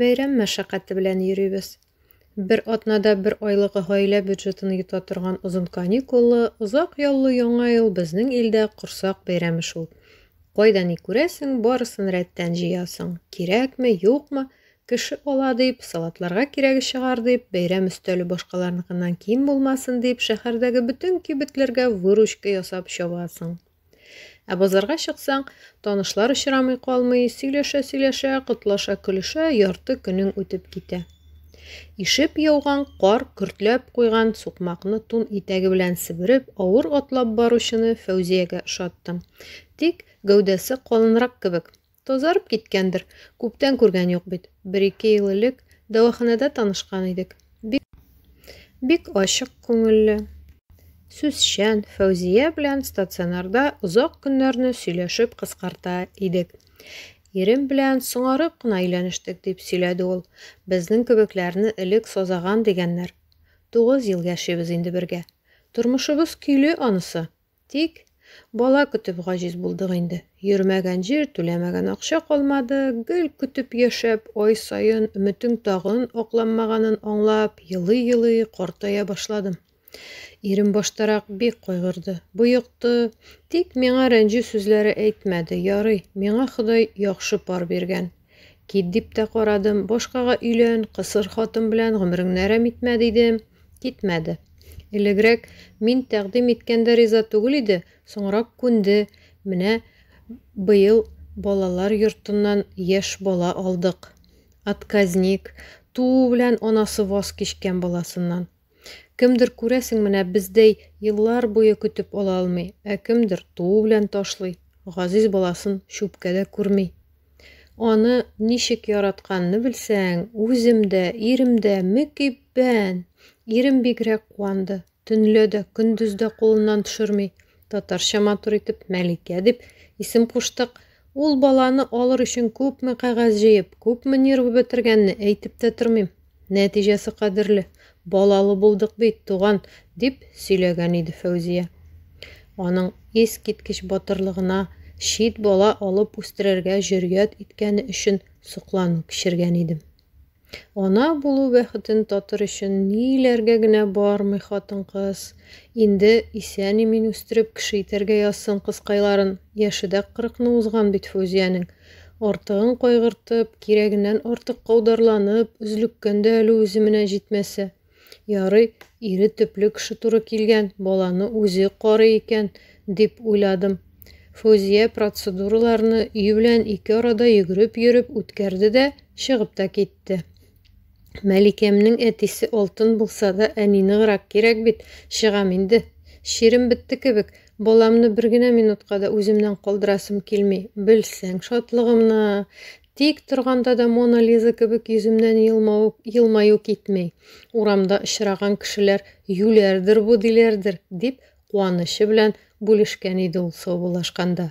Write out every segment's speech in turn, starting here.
Бәйрәм мәшәкате белән йөрибез. Бер атнада бер айлык гаилә бюджетын йота торган озын каникуллы, озак яллы Яңа ел безнең илдә корсак бәйрәме шул. Кайда ни күрәсең, барысын рәттән җыясың. Кирәкме, юкмы, кеше ала дип, салатларга кирәге чыгар дип, бәйрәм өстәле башкаларныкыннан ким булмасын дип, шәһәрдәге бөтен кибетләргә выручка ясап чабасың. Ә базарга чыксаң, танышлар очрамый калмый, сөйләшә-сөйләшә, котлаша көлешә ярты көнең үтеп китә. Ишеп яуган кар көртләп куйган сукмакны тун итәге белән себереп, авыр атлап баручыны Фәүзиягә ошаттым. Тик гәүдәсе калынрак кебек, Тазарып киткәндер, күптән күргән юк бит. Бер-ике ел элек дәваханәдә танышкан идек. Бик. Бик ачык күңелле. Сүзчән, Фәүзия белән стационарда озак көннәрне сөйләшеп кыскарта идек. Ирем белән соңарып кына өйләнештек, дип сөйләде ул. Безнең кебекләрне элек сазаган дигәннәр. Тугыз ел яшибез инде бергә. Тормышыбыз көйле анысы. Тик, бала көтеп гаҗиз булдык инде. Йөрмәгән җир, түләмәгән акча калмады. Гел көтеп яшәп, ай саен өметең тагын акланмаганын аңлап, елый-елый картая башладым. Ирем баштарак бик кайгырды, боекты, тик миңа рәнҗү сүзләре әйтмәде, ярый, миңа Ходай яхшы пар биргән, Кит дип тә карадым, башкага өйлән, кысыр хатын белән гомереңне әрәм итмә, дидем. Китмәде. Элегрәк мин тәкъдим иткәндә риза түгел иде, соңрак күнде. Менә быел балалар йортыннан яшь бала алдык. Отказник, туу белән анасы ваз кичкән баласыннан. Кемдер, күрәсең, менә бездәй еллар буе көтеп ала алмый, ә кемдер туу белән ташлый, газиз баласын чүпкә дә күрми. Аны ничек яратканны белсәң, үзем дә, ирем дә мөкиббән. Ирем бигрәк куанды. Төнлә дә, көндез дә кулыннан төшерми. Татарча матур итеп Мәликә дип исем куштык. Ул баланы алыр өчен күпме кәгазь җыеп, күпме нервы бетергәнне әйтеп тә тормыйм. Нәтиҗәсе кадерле, балалы булдык бит, туган, дип сөйләгән иде Фәүзия. Аның искиткеч батырлыгына, чит бала алып үстерергә җөрьят иткәне өчен соклану кичергән идем. Ана булу бәхетен татыр өчен ниләргә генә бармый хатын-кыз. Инде исән-имин үстереп кеше итәргә язсын кызкайларын. Яше дә кырыкны узган бит Фүзиянең. Артыгын кайгыртып, кирәгеннән артык каударланып, өзлеккән дә әле үзе менә җитмәсә. Ярый, ире төпле кеше туры килгән, баланы үзе карый икән, дип уйладым. Фузия процедураларны өй белән ике арада йөгереп йөреп үткәрде дә, чыгып та китте. Мәликәмнең әтисе алтын булса да, әни ныграк кирәк бит. Чыгам инде. Чирем бетте кебек. Баламны бер генә минутка да үземнән калдырасым килми. Белсәң шатлыгымны. Тик торганда да Мона Лиза кебек йөземнән елмау, елмаю китми. Урамда очраган кешеләр юләрдер бу диләрдер, дип куанычы белән бүлешкән иде ул саубуллашканда.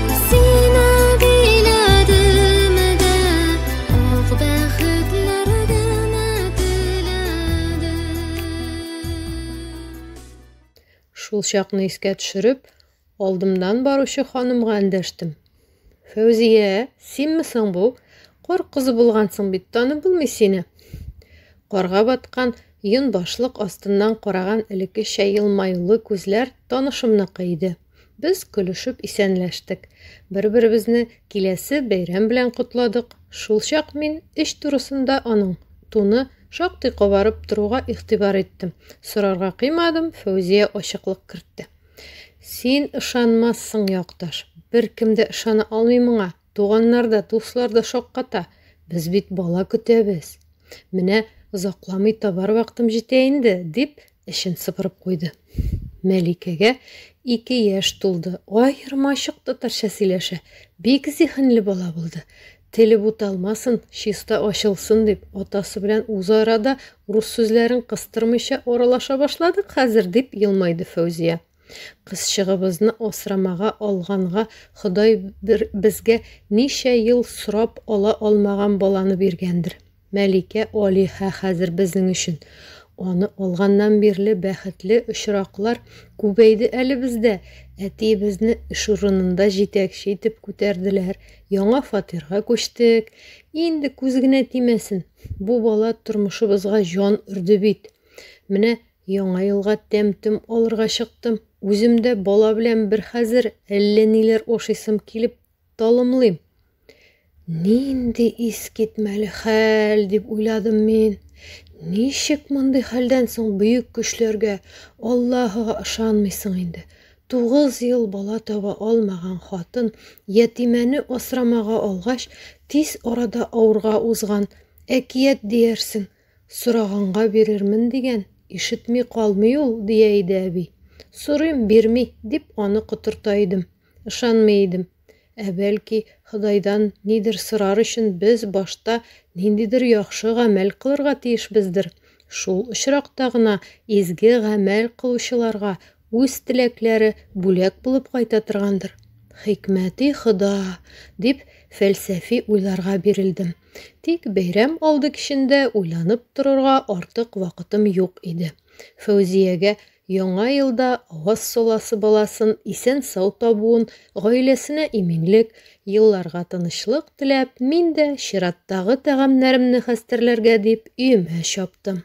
Шул чакны искә төшереп, алдымнан баручы ханымга эндәштем. Фәүзия, синме соң бу? Кар кызы булгансың бит, танып булмый сине. Карга баткан йон башлык астыннан караган элеккечә елмаюлы күзләр танышымныкы иде. Без көлешеп исәнләштек. Бер-беребезне киләсе бәйрәм белән котладык. Шулчак мин эч турысында аның туны шактый кабарып торуга игътибар иттем. Сорарга кыймадым, Фәүзия ачыклык кертте. Син ышанмассың, якташ. Беркем дә ышана алмый моңа. Туганнар да, дуслар да шакката. Без бит бала көтәбез. Менә озакламый табар вакытым җитә инде, дип, Эчен сыпырып куйды. Мәликәгә ике яшь тулды. Аермачык татарча сөйләшә. Бик зиһенле бала булды. Теле буталмасын, чиста ачылсын дип, атасы белән үзара да рус сүзләрен кыстырмыйча аралаша башладык хәзер, дип елмайды Фәүзия. Кызчыгыбызны асрамага алганга Ходай бер безгә ничә ел сорап ала алмаган баланы биргәндер. Мәликә Алиһә хәзер безнең өчен. Аны алганнан бирле бәхетле очраклар күбәйде әле бездә. Әтиебезне эш урынында җитәкче итеп күтәрделәр. Яңа фатирга күчтек. Инде күз генә тимәсен. Бу бала тормышыбызга җан өрде бит. Менә Яңа елга тәм-том алырга чыктым. Үзем дә бала белән бер хәзер әллә ниләр ашыйсым килеп талымлыйм. Нинди искитмәле хәл, дип уйладым мин. Ничек мондый хәлдән соң бөек көчләргә, Аллаһыга ышанмыйсың инде? Тугыз ел бала таба алмаган хатын ятимәне асрамага алгач, тиз арада авырга узган. Әкият диярсең. Сораганга бирермен дигән, ишетми калмый ул, дия иде әби. Сорыйм, бирми, дип аны котырта идем. Ышанмый идем. Ә бәлки, Ходайдан нидер сорар өчен без башта ниндидер яхшы гамәл кылырга тиешбездер? Шул очракта гына изге гамәл кылучыларга үз теләкләре бүләк булып кайта торгандыр. Хикмәти Хода! дип, фәлсәфи уйларга бирелдем. Тик бәйрәм алды кичендә уйланып торырга артык вакытым юк иде. Фәүзиягә Яңа елда аваз соласы баласын исән-сау табуын, гаиләсенә иминлек, елларга тынычлык теләп, мин дә, чираттагы тәгамнәремне хәстәрләргә дип, өемә чаптым.